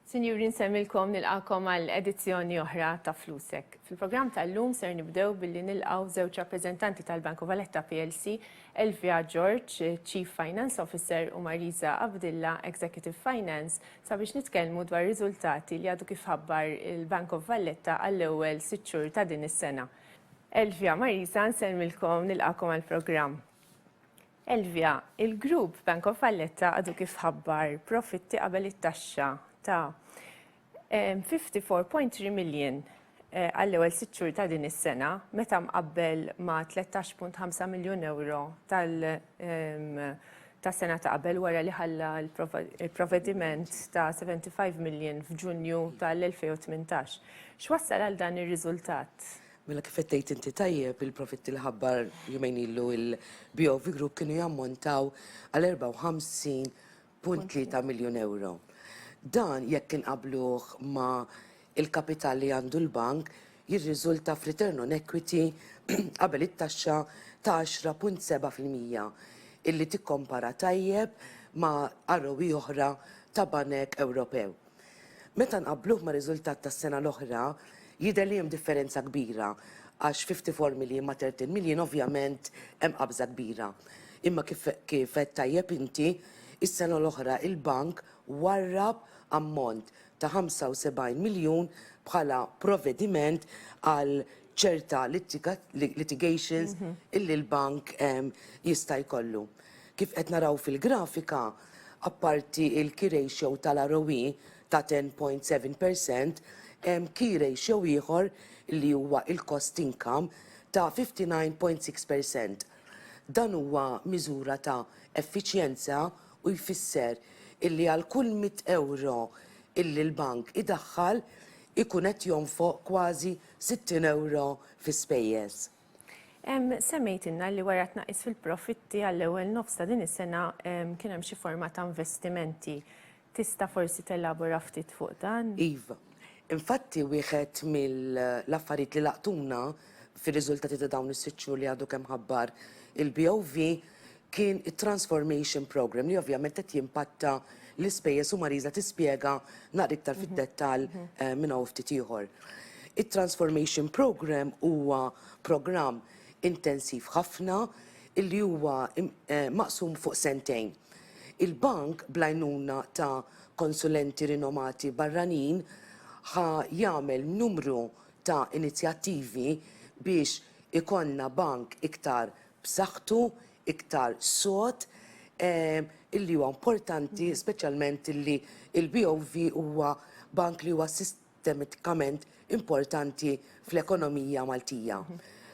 Sinjuri nsemmilkom nilqakom għal edizzjoni oħra ta' Flusek. Fil-programm tal-lum ser nibdew billi nilqaw żewġ rappreżentanti tal-Banku Valletta PLC, Elvia George, Chief Finance Officer u Marisa Abdilla, Executive Finance, sabiex nitkellmu dwar riżultati li għadu kif ħabbar il-Bank of Valletta għall-ewwel sitt xhur ta' din is-sena. Elvia, Marisa, nsellmilkom nilqakom għall-programm. Elvia, il-grupp Bank of Valletta għadu kif ħabbar profitti qabel it-taxxa ta' 54.3 million eh, għall-ewwel sitt xhur ta' din is-sena meta mqabbel ma' 13.5 miljun euro tal- ehm, tas-sena ta' qabel wara li ħalla l-provvediment ta' 75 million f'Ġunju tal-2018. X'wassal għal dan ir-riżultat? Mela kif qed tgħid inti tajjeb, il-profitti li ħabbar jumejn ilu l-BOV Group kienu jammontaw għal 54.3 miljun ewro. Dan jekk inqabbluh ma' Il-kapital li għandu l-bank jirriżulta f'return on equity qabel it-taxxa ta' 10.7 fil-mija, illi tikkompara tajjeb ma' ROE oħra ta' banek Ewropew. Meta nqabbluh mar-riżultat tas-sena l-oħra, jidher li hemm differenza kbira, għax 54 million ma' 13 million ovvjament hemm qabża kbira. Imma kif kif għedt tajjeb inti, is-sena l-oħra il-bank warrab ammont ta' 75 miljun bħala provvediment għal ċerta litigations illi l-bank jista' jkollu. Kif qed naraw fil-grafika, apparti il-key ratio tal-ROE ta' 10.7%, hemm key ratio ieħor li huwa il-cost income ta' 59.6%. Dan huwa miżura ta' effiċjenza u jfisser illi għal kull mitt ewro illi l-bank idaħħal ikun qed jonfoq kważi sittin ewro fi spejjeż. Semmejtilna li wara tnaqqis fil-profitti għall-ewwel nofs ta' din is-sena kien hemm xi forma ta' investimenti. Tista' forsi telabora ftit fuq dan? Iva. Infatti wieħed mill-affarijiet li laqtuna fir-riżultati ta' dawn is-sitt xhur li għadu kemm ħabbar il-BOV kien it-Transformation Programme li ovvjament qed jimpatta l-ispejjeż u Marisa tispjega naqra iktar fid-dettall minn hawn u ftit ieħor. It-Transformation Programme huwa programm intensiv ħafna li huwa maqsum fuq sentejn. Il-Bank bl-għajnuna ta' konsulenti rinomati barranin ħa jagħmel numru ta' inizjattivi biex ikollna Bank iktar b'saħħtu, iktar sod, illi huwa importanti speċjalment illi l-BOV huwa bank li huwa sistematikament importanti fl-ekonomija Maltija.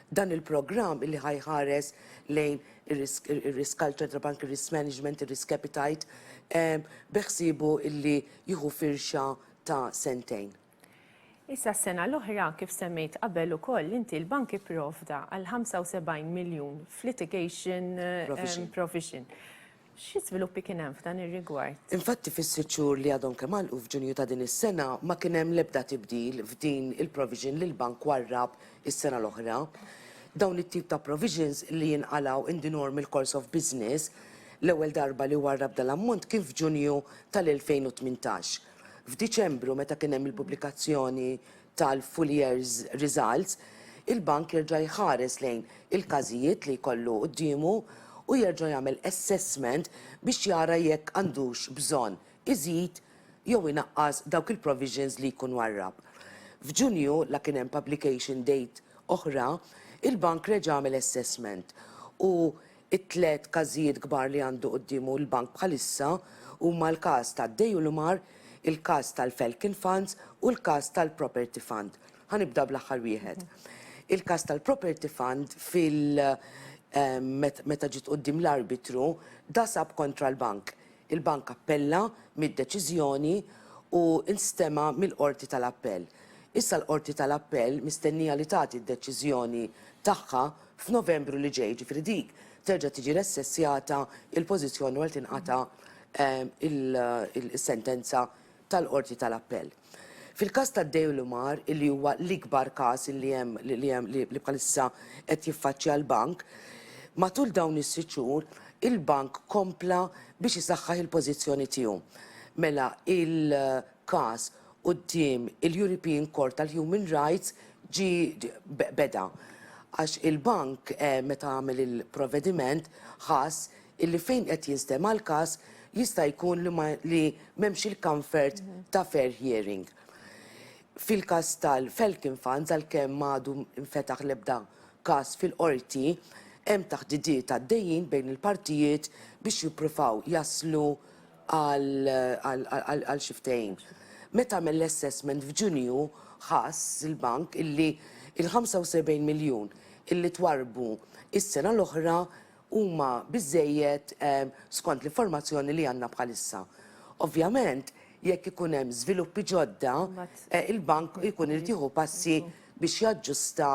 Dan il-programm illi ħa jħares lejn ir-risk culture tal-bank, ir-risk management, ir-risk appetite, beħsiebu illi jieħu firxa ta' sentejn. Issa s-sena l-oħra, kif semmejt qabel ukoll inti, l-bank ipprovda għal 75 miljun f'litigation provision. Xi żviluppi kien hemm f'dan ir-rigward? Infatti fis-sitt xhur li għadhom kemm għalqu f'Ġunju ta' din is-sena ma kien hemm l-ebda tibdil f'din il-provision li l-bank warrab is-sena l-oħra. Dawn it-tip ta' provisions li jinqalgħu in the normal course of business, l-ewwel darba li warrab dal-ammont kien f'Ġunju tal-2018. F'Diċembru meta kien hemm il-pubblikazzjoni tal-full year's results, il-Bank jerġa' jħares lejn il-każijiet li jkollu quddiemu u jerġa' jagħmel assessment biex jara jekk għandux bżonn iżid jew inaqqas dawk il-provisions li jkun warrab. F'Ġunju, la kien hemm publication date oħra, il-Bank reġa' għamel assessment u It-tliet każijiet kbar li għandu quddiemu l-Bank bħalissa huma l-każ ta' Deulomar, il-każ tal-Felkin Funds u l-każ tal-Property Fund. Ħa nibda bl-aħħar wieħed. Il-każ tal-Property Fund fil meta ġiet quddiem l-arbitru dasab kontra l-Bank. Il-Bank appella mid-deċiżjoni u nstema' mill-Qorti tal-Appell. Issa l-Qorti tal-Appell mistennija li tagħti d-deċiżjoni tagħha f'Novembru li ġej, ġifieri dik terġa' tiġi ressessjata l-pożizzjoni wara li tinqata' is-sentenza tal-Qorti tal-Appell. Fil-każ ta' Deulomar, li huwa l-ikbar każ li hemm li hemm li li bħalissa qed jiffaċċja l-bank, matul dawn is-sitt xhur il-bank kompla biex isaħħaħ il-pożizzjoni tiegħu. Mela il- każ quddiem il-European Court tal-Human Rights ġie beda għax il-bank meta għamel il-provvediment ħass illi fejn qed jinstema' l-każ jista' jkun li ma li m'hemmx il-comfort ta' fair hearing. Fil-każ tal-Falcon Funds għalkemm m'għadu nfetaħ l-ebda każ fil-Qorti hemm taħdidiet għaddejjin bejn il-partijiet biex jippruvaw jaslu għal xi ftehim. Meta għamel l-assessment f'Ġunju ħass il-bank illi l-75 miljun illi twarrbu s-sena l-oħra huma biżżejjed skont l-informazzjoni li għandna bħalissa. Ovvjament, jekk ikun hemm żviluppi ġodda, il-bank ikun irid jieħu passi biex jaġġusta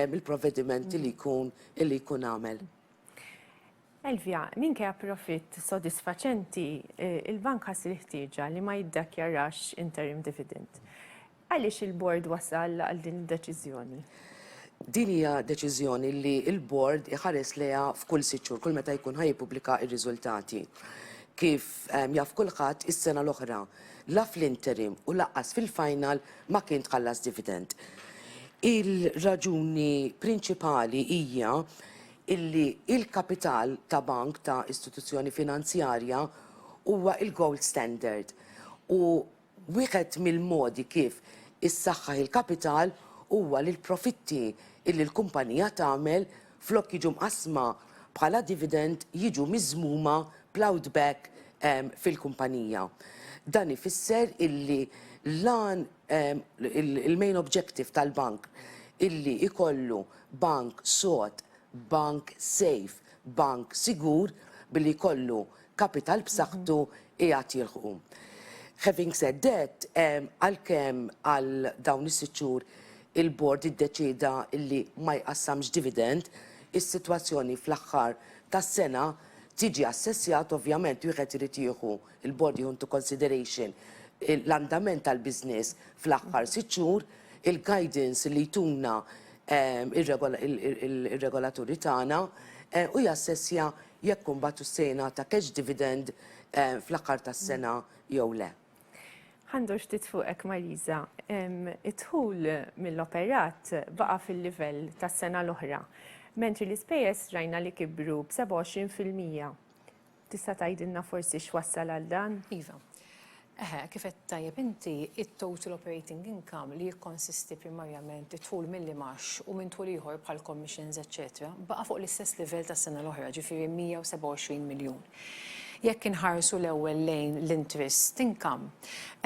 l-provvedimenti li jkun għamel. Elvia, minkejja profitt sodisfaċenti, il-bank ħass il-ħtieġa li ma jiddakjarax interim dividend. Għaliex il-Bord wasal għal din id-deċiżjoni? Din hija deċiżjoni li l-Bord iħares lejha f'kull sitt xhur, kull meta jkun ħa jippubblika r-riżultati. Kif jaf kulħadd, is-sena l-oħra la fl-interim u lanqas fil-final ma kien tħallas dividend. Il-raġuni prinċipali hija illi il-kapital ta' bank ta' istituzzjoni finanzjarja huwa il-gold standard u wieħed mill-modi kif issaħħaħ il-kapital huwa li l-profitti illi l-kumpanija tagħmel flok jiġu mqassma bħala dividend jiġu miżmuma plowed back fil-kumpanija. Dan ifisser illi l-għan il-main objective tal-bank illi jkollu Bank sod, bank safe, bank sigur billi jkollu kapital b'saħħtu qiegħed jilħqu. Having said that, għalkemm għal dawn is-sitt xhur il-Bord iddeċieda li ma jqassamx dividend, is-sitwazzjoni fl-aħħar tas-sena tiġi assessjat ovvjament wieħed irid jieħu Il-Bord jieħu into consideration l-andament tal-business fl-aħħar sitt xhur, il-guidance li jtuna r-regolaturi tagħna u jassessja jekk imbagħad hux se jingħata cash dividend fl-aħħar tas-sena jew le. Ħa ndur ftit fuqek Marisa. Id-dħul mill-operat baqa' fil-livell tas-sena l-oħra, mentri l-ispejjeż rajna li kibru b'27 fil-mija. Tista' tgħidilna forsi x'wassal għal dan? Iva. Eħe, kif għedt tajjeb inti, it-total operating income li jikkonsisti primarjament id-dħul mill-imgħax u minn dħul ieħor bħal commissions eċċetera baqa' fuq l-istess livell tas-sena l-oħra, ġifieri 127 miljun. Jekk inħarsu l-ewwel lejn l-interest income,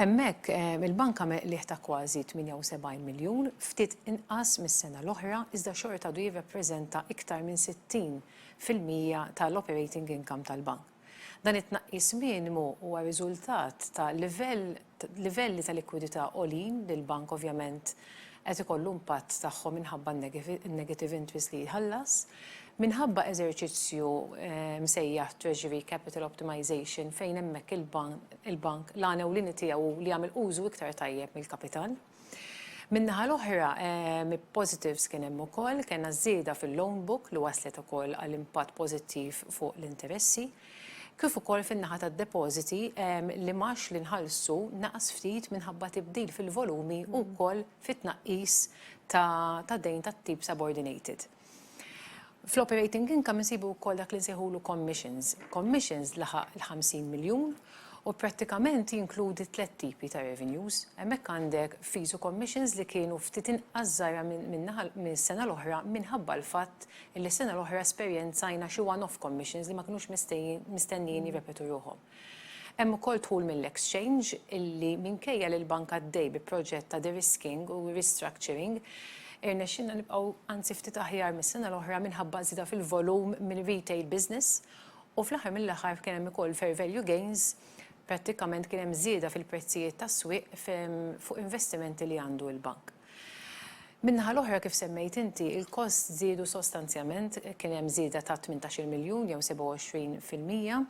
hemmhekk il-bank għamel qligħ ta' kważi 78 miljun, ftit inqas mis-sena l-oħra iżda xorta għadu jirrappreżenta iktar minn 60 fil-mija tal-operating income tal-bank. Dan it-tnaqqis minimu huwa riżultat ta' livelli ta' likwidità għoljin li l-bank ovvjament qed ikollu impatt tagħhom minħabba n-negative interest li jħallas minħabba eżerċizzju msejjaħ treasury capital optimization fejn hemmhekk il-bank l-għan ewlieni tiegħu hu li jagħmel użu iktar tajjeb mill-kapital. Min-naħa l-oħra, positives kien hemm ukoll, kellna ż-żieda fil-loan book li wasslet ukoll għal impatt pożittiv fuq l-interessi, kif ukoll fin-naħa tad-depożiti li mgħax li nħallsu naqas ftit minħabba tibdil fil-volumi u wkoll fit-tnaqqis ta' dejn tat-tip subordinated. Fl-operating income insibu wkoll dak li nsejħulu commissions. Commissions laħaq il-50 miljun u prattikament jinkludi tliet tipi ta' revenues. Hemmhekk għandek fees u commissions li kienu ftit inqas żgħira mis-sena l-oħra minħabba l-fatt li s-sena l-oħra esperjenzajna xi one-off commissions li ma kinux mistennijin jirrepetu ruħhom. Hemm ukoll dħul mill-exchange illi minkejja li l-bank għaddej bi proġett ta' de-risking u restructuring, irnexxielna nibqgħu anzi ftit aħjar mis-sena l-oħra minħabba żieda fil-volum mir-retail business u fl-aħħar mill-aħħar kien hemm ukoll fair value gains, prattikament kien hemm żieda fil-prezzijiet tas-swieq fuq investimenti li għandu l-bank. Min-naħa l-oħra, kif semmejt inti, il-costs żiedu sostanzjament, kien hemm żieda ta' tmintax-il miljun jew 27 fil-mija.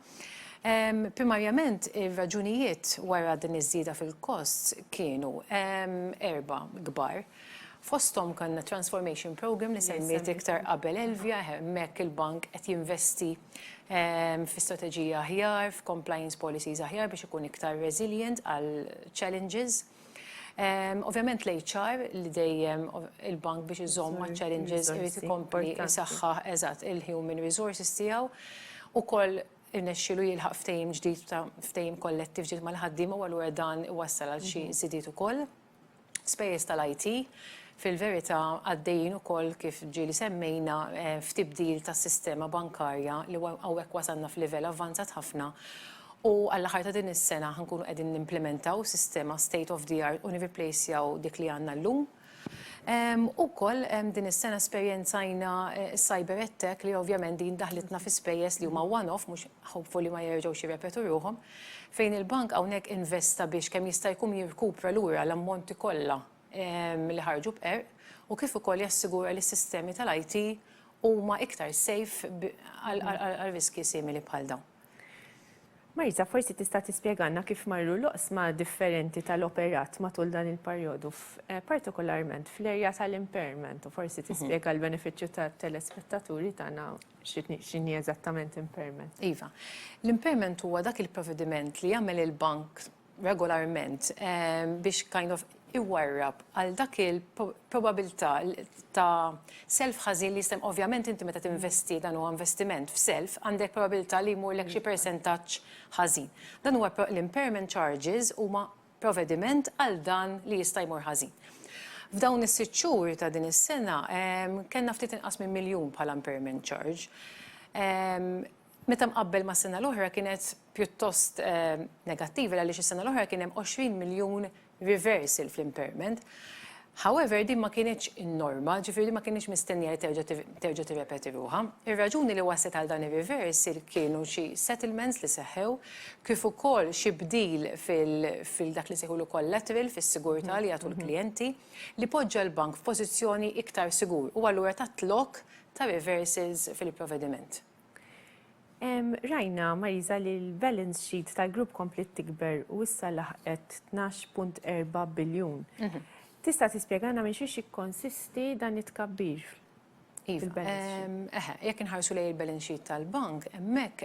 Primarjament ir-raġunijiet wara din iż-żieda fil-costs kienu erbgħa kbar. Fosthom kellna transformation programme li semmiet iktar qabel Elvia, hemmhekk il-bank qed jinvesti fi strateġija aħjar, f'compliance policies aħjar biex ikun iktar resilient għall-challenges. Ovvjament l-HR li dejjem il-bank biex iżomm maċ-challenges irid ikompli jsaħħaħ eżatt il-human resources tiegħu. Ukoll irnexxielu jilħaq ftehim ġdid ta' ftehim kollettiv ġdid mal-ħaddiema u allura dan iwassal għal xi żidiet ukoll. Spejjeż tal-IT, Fil-verità, għaddejjin ukoll, kif ġieli semmejna, f'tibdil tas-sistema bankarja li hawnhekk wasalna f'livell avvanzat ħafna u għall-aħħar ta' din is-sena ħa nkunu qegħdin nimplimentaw sistema state of the art u nirriplejsjaw dik li għandna llum. Ukoll din is-sena esperjenzajna s-cyber attack li ovvjament din daħħlitna fi spejjeż li huma one-off, mhux hopefully ma jerġgħux jirrepetu ruħhom, fejn il-bank hawnhekk investa biex kemm jista' jkun jirkupra lura l-ammonti kollha li ħarġu b'qerq u kif ukoll jassigura li s-sistemi tal-IT huma iktar safe għal riskji simili bħal dawn. Marisa, forsi tista' tispjegalna kif marru l-oqsma differenti tal-operat matul dan il-perjodu, partikolarment fl-erja tal-impairment, u forsi tispjega għall-benefiċċju tat-telespettaturi tagħna x'inhi eżattament impairment. Iva. L-impairment huwa dak il-provvediment li jagħmel il-bank regolarment biex kind of iwarrab għal dak il-probabilità ta' self ħażin li jista' ovvjament inti meta tinvesti dan huwa investiment f'self għandek probabilità li jmurlek xi persentaġġ ħażin. Dan huwa l-impairment charges huma provvediment għal dan li jista' jmur ħażin. F'dawn is-sitt xhur ta' din is-sena kellna ftit inqas minn miljun bħala impairment charge. Meta mqabbel mas-sena l-oħra kienet pjuttost negattiva għaliex is-sena l-oħra kien hemm 20 miljun reversal fl-impairment. However, din ma kinitx in-norma, ġifieri din ma kinitx mistennija li terġa' tirrepeti ruħha. Ir-raġuni li wasslet għal dan ir-reversal kienu xi settlements li seħħew kif ukoll xi bdil fil-dak li nsejħulu collateral fis-sigurtà li jagħtu l-klijenti li poġġa l-bank f'pożizzjoni iktar sigur u allura tat lok ta' reversals fil-provediment. Rajna, Marisa, li l-balance sheet tal-grupp komplet tikber u issa laħqet 12.4 biljun. Mhm. Tista' tispjegana minn xiex jikkonsisti dan it-tkabbir? Iva, jekk inħarsu lej il-balance sheet tal-bank, hemmhekk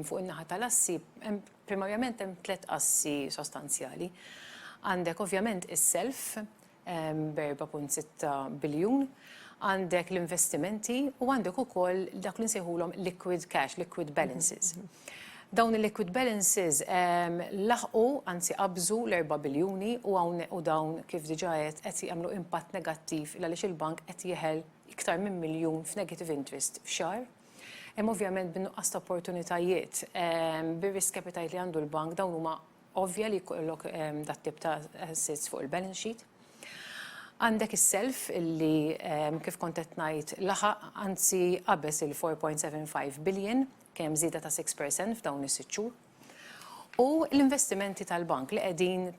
fuq in-naħa tal-assi, primarjament hemm tliet assi sostanzjali. Għandek ovvjament is-self, b'4.6 biljun, għandek l-investimenti u għandek ukoll dak li nsejħulhom liquid cash, liquid balances. Dawn il-liquid balances laħqu, anzi qabżu l-4 biljuni u dawn kif diġà għedt qed jagħmlu impatt negattiv għaliex il-bank qed jeħel iktar minn miljun f'negative interest f'xahar. Hemm ovvjament bin-nuqqas ta' opportunitajiet, bir-risk appetite li għandu l-bank dawn huma ovvja li jkollok dat-tip ta' assets fuq il-balance sheet. Għandek is-self li, kif kont qed ngħid, laħaq, anzi qabeż il-4.75 billion, kien hemm żieda ta' 6% f'dawn is-sitt xhur. L-investimenti tal-bank li qegħdin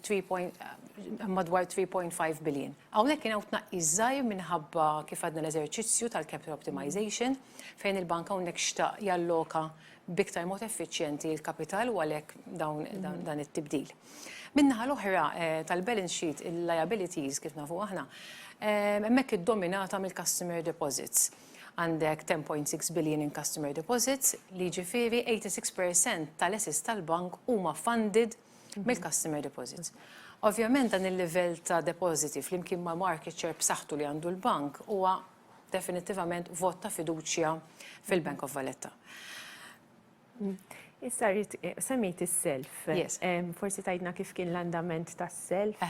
madwar 3.5 billion. Hawnhekk kien hawn tnaqqis żgħir minħabba kif għadna l-eżerċizzju tal-capital optimization fejn il-bank hawnhekk xtaq jalloka b'iktar mod effiċjenti l-kapital u għalhekk dawn dan it-tibdil. Min-naħa l-oħra tal-balance sheet, il-liabilities kif nafu aħna, hemmhekk iddominata mill-customer deposits. Għandek 10.6 billion in customer deposits, li jiġifieri 86% tal-assets tal-bank huma funded mill-customer deposits. Ovvjament dan il-livell ta' depositi flimkien ma' market share b'saħħtu li għandu l-bank huwa definittivament vot ta' fiduċja fil-Bank of Valletta. Issa rrit semmejt is-self. Forsi tajdna kif kien l-andament tas-self?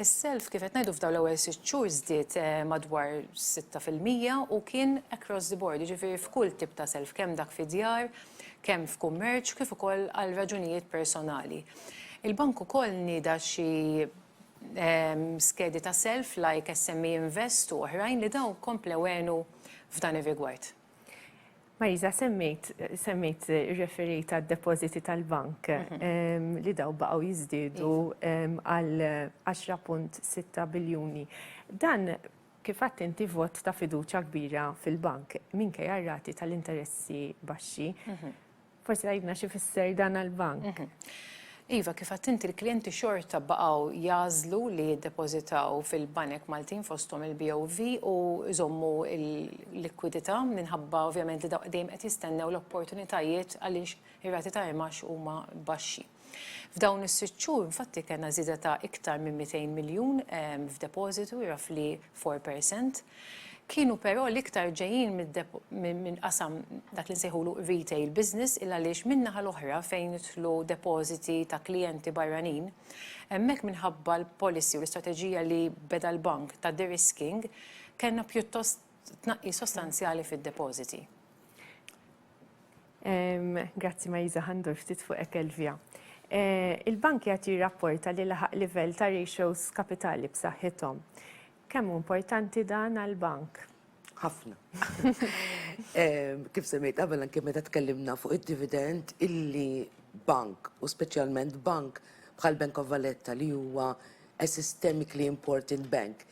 Is-self kif qed ngħidu f'daw l-ewwel sitt xhur żdied madwar 6% u kien across the board, jiġifieri f'kull tip ta' self, kemm dak fi djar, kemm f'kummerċ, kif ukoll għal raġunijiet personali. Il-bank ukoll nieda xi skedi ta' self like SME Invest u oħrajn li dawn komplew għenu f'dan ir-rigward. Marisa, semmejt irreferejt għad-depożiti tal-bank li dawn baqgħu jiżdiedu għal 10.6 biljuni. Dan kif għedt inti vot ta' fiduċja kbira fil-bank minkejja r-rati tal-interessi baxxi. Forsi tgħidna x'ifisser dan għall-bank. Iva, kif għadt inti l-klijenti xorta baqgħu jagħżlu li jiddepożitaw fil-banek Maltin fosthom il-BOV u jżommu l-likwidità minħabba ovvjament li dejjem qed jistennew l-opportunitajiet għaliex ir-rati ta' imgħax huma baxxi. F'dawn is-sitt xhur infatti kellna żieda ta' iktar minn 200 miljun f'depożitu, roughly 4%. Kienu però l-iktar ġejjin minn qasam dak li nsejħulu retail business il għaliex min-naħa l-oħra fejn jidħlu depożiti ta' klijenti barranin, hemmhekk minħabba l-policy u l-istrateġija li beda l-bank ta' de-risking, kellna pjuttost tnaqqis sostanzjali fid-depożiti. Grazzi Marisa, ħa ndur ftit fuq hekk Elvia. Il-bank qiegħed jirrapporta li laħaq livell ta' ratios kapitali b'saħħithom. Kemm hu importanti dan għall-bank? Ħafna. Kif semmejt qabel anke meta tkellimna fuq id-dividend illi bank u speċjalment bank bħal Bank of Valletta li huwa a systemically important bank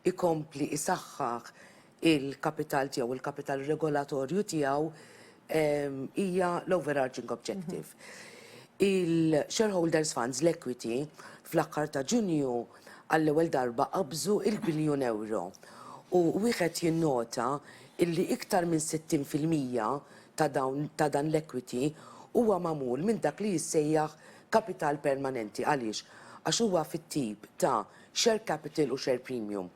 ikompli isaħħaħ il-kapital tiegħu, il-kapital regolatorju tiegħu, hija l-overarching objective. Il-shareholders funds, l-equity, fl-aħħar ta' Ġunju għall-ewwel darba qabżu il-biljun ewro. U wieħed jinnota illi iktar minn 60 fil-mija ta' dawn ta' dan l-equity huwa magħmul minn dak li jissejjaħ kapital permanenti. Għaliex? Għax huwa fit-tip ta' Share Capital u Share Premium.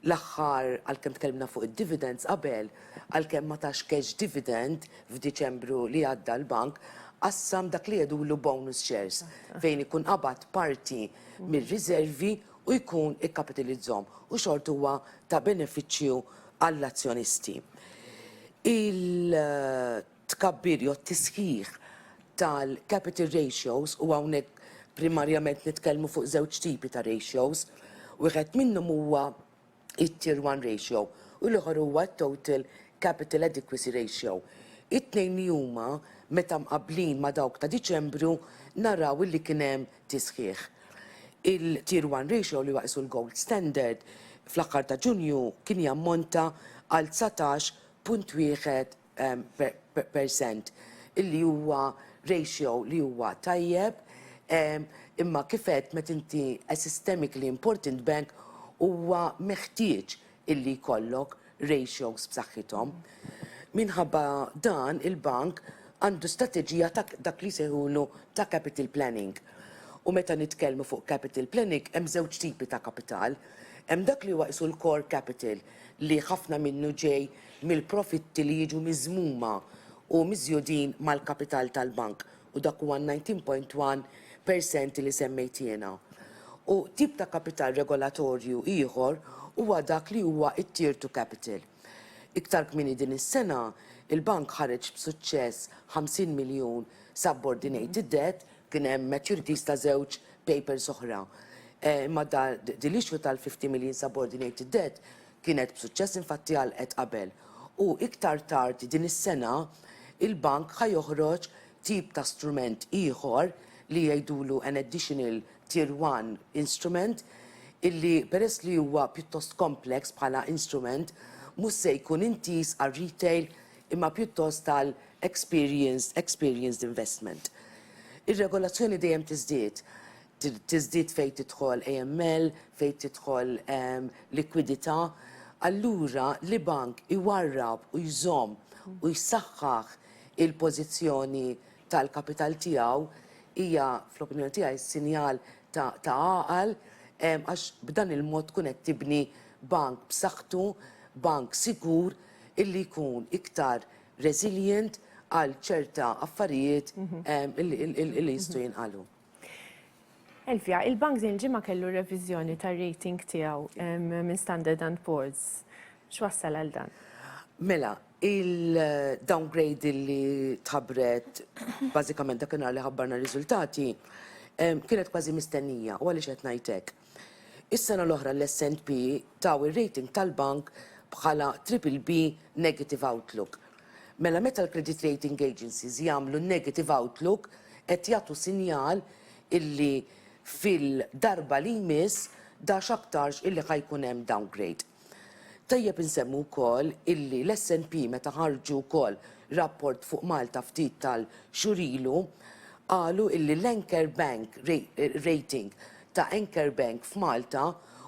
L-aħħar, għalkemm tkellimna fuq id-dividends qabel, għalkemm ma tax cash dividend f'Diċembru li għadda l-bank, qassam dak li jgħidulu bonus shares fejn ikun qabad parti mir-riżervi u jkun ikkapitilizzhom u xorta huwa ta' benefiċċju għall-azzjonisti. Il. tkabbir jew t-tisħiħ tal-capital ratios, u hawnhekk primarjament nitkellmu fuq żewġ tipi ta' ratios, wieħed minnhom huwa t-Tier 1 ratio u l-ieħor huwa t-Total Capital Adequacy Ratio. It-tnejn li huma, meta mqabblin ma' dawk ta' Diċembru, naraw illi kien hemm tisħiħ. Il-Tier 1 ratio, li huwa qisu l-gold standard, fl-aħħar ta' Ġunju kien jammonta għal dsatax punt wieħed percent illi huwa ratio li huwa tajjeb, imma kif għedt meta inti a systemically important bank huwa meħtieġ illi jkollok ratios b'saħħithom. Minħabba dan il-bank għandu strateġija ta' dak li jsejħulu ta' capital planning. U meta nitkellmu fuq capital planning hemm żewġ tipi ta' kapital. Hemm dak li huwa qisu l-core capital li ħafna minnu ġej mill-profitti li jiġu miżmuma u miżjudin mal-kapital tal-bank, u dak huwa n-nineteen point one per cent li semmejt jiena. U tip ta' kapital regolatorju ieħor huwa dak li huwa t-Tier two capital. Iktar kmieni din is-sena, il-bank ħareġ b'suċċess ħamsin miljun subordinated debt, kien hemm maturities ta' żewġ papers oħra, imma din l-issue tal-fifty million subordinated debt Kienet b'suċċess infatti għalqet qabel u iktar tard din is-sena il-Bank ħa joħroġ tip ta' strument ieħor li jgħidulu an additional tier one instrument illi peress li huwa pjuttost complex bħala instrument mhux se jkun intiż għar-retail imma pjuttost għal experienced experienced investment. Ir-regolazzjoni dejjem tiżdied. tiżdied fejn tidħol AML, fejn tidħol likwidità, allura li bank iwarrab u jżomm u jsaħħaħ il-pożizzjoni tal-kapital tiegħu hija, fl-opinjoni tiegħi, sinjal ta' għaqal għax b'dan il-mod tkun qed tibni bank b'saħħtu, bank sigur illi jkun iktar resilient għal ċerta affarijiet illi jistgħu jinqalgħu. Elvia, il-bank din il-ġimgħa kellu reviżjoni tar-rating tiegħu minn Standard and Poor's. X'wassal għal dan? Mela, il-downgrade li tħabbret bażikament dakinhar li ħabbarna r-riżultati kienet kważi mistennija u għaliex qed ngħid hekk. Is-sena l-oħra l-S and P taw ir-rating tal-bank bħala triple B negative outlook. Mela meta l-credit rating agencies jagħmlu negative outlook qed jagħtu sinjal illi fil-darba li jmiss da x'aktarx illi ħa jkun hemm downgrade. Tajjeb insemmu wkoll illi l-SNP meta ħarġu wkoll rapport fuq Malta ftit tal-xhur ilu qalu illi l-anchor bank rating ta' anchor bank f'Malta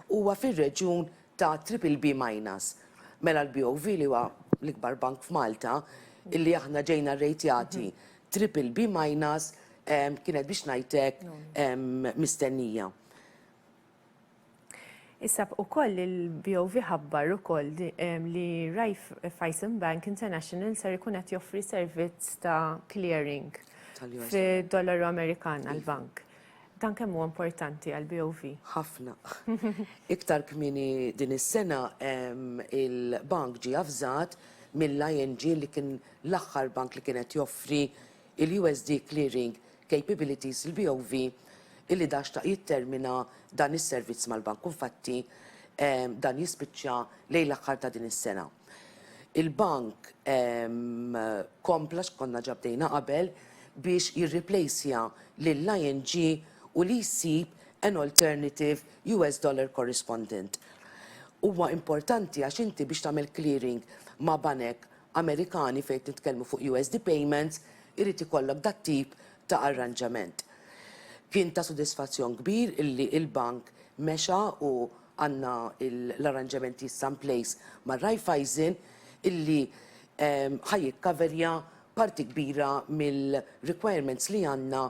huwa fir-reġjun ta' triple B minus. Mela l-BOV li huwa l-ikbar bank f'Malta illi aħna ġejna rrejtjati triple B minus kienet biex ngħidlek mistennija. Issa ukoll il-BOV ħabbar ukoll li Raiffeisen Bank International ser ikun qed joffri servizz ta' clearing fid-dollaru Amerikan għall-bank. Dan kemm huwa importanti għall-BOV? Ħafna. Iktar kmieni din is-sena il-bank ġie avżat mill-ING li kien l-aħħar bank li kien qed joffri l-USD clearing Capabilities, il-BOV, illi dan xtaq jittermina dan is-servizz mal-Bank u infatti dan jispiċċa lejn l-aħħar ta' din is-sena. Il-Bank kompla x'konna ġa bdejna qabel biex jirriplejsja lill-ING u li jsib an alternative US dollar correspondent. Huwa importanti għax inti biex tagħmel clearing ma' banek Amerikani fejn qed nitkellmu fuq USD payments irid ikollok dat-tip ta' arranġament. Kien ta' sodisfazzjon kbir illi l-bank mexa u għandna l-arranġamenti issa in place ma' Raiffeisen illi ħa jikkaverja parti kbira mill-requirements li għandna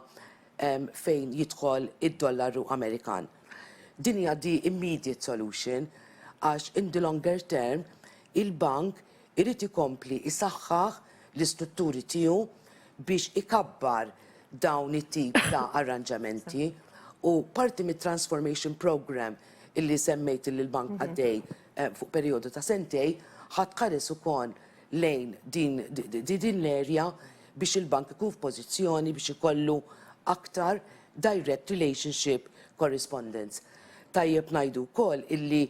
fejn jidħol id-dollaru Amerikan. Din hija the immediate solution għax in the longer term il-bank irid ikompli jsaħħaħ l-istrutturi tiegħu biex ikabbar dawn it-tip ta' arranġamenti u parti mit-transformation programme illi semmejt illi l-Bank għaddej fuq perijodu ta' sentejn ħa tħares ukoll lejn din l-erja biex il-Bank ikun f'pożizzjoni biex ikollu aktar direct relationship correspondence. Tajjeb ngħidu wkoll illi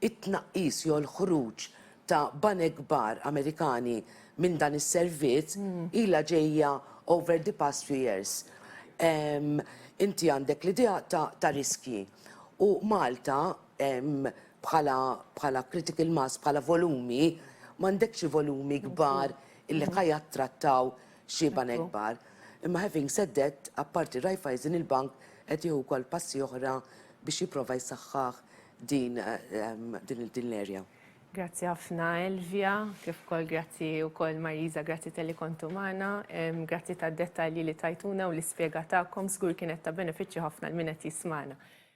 it-tnaqqis jew il-ħruġ ta' banek kbar Amerikani minn dan is-servizz ilha ġejja over the past few years. Inti għandek l-idea ta' riskji u Malta bħala critical mass, bħala volumi, m'għandekx volumi kbar illi ħa jattrattaw xi banek kbar. Imma having said that, apparti Raiffeisen il-bank qed jieħu wkoll passi oħra biex jipprova jsaħħaħ din din l-erja. Grazzi ħafna Elvia, kif ukoll grazzi wkoll Marisa, grazzi tal-li kontu magħna, grazzi tad-dettalji li tajtuna u l-ispjega tagħkom, żgur kienet ta' benefiċċju ħafna l min qed jismagħna.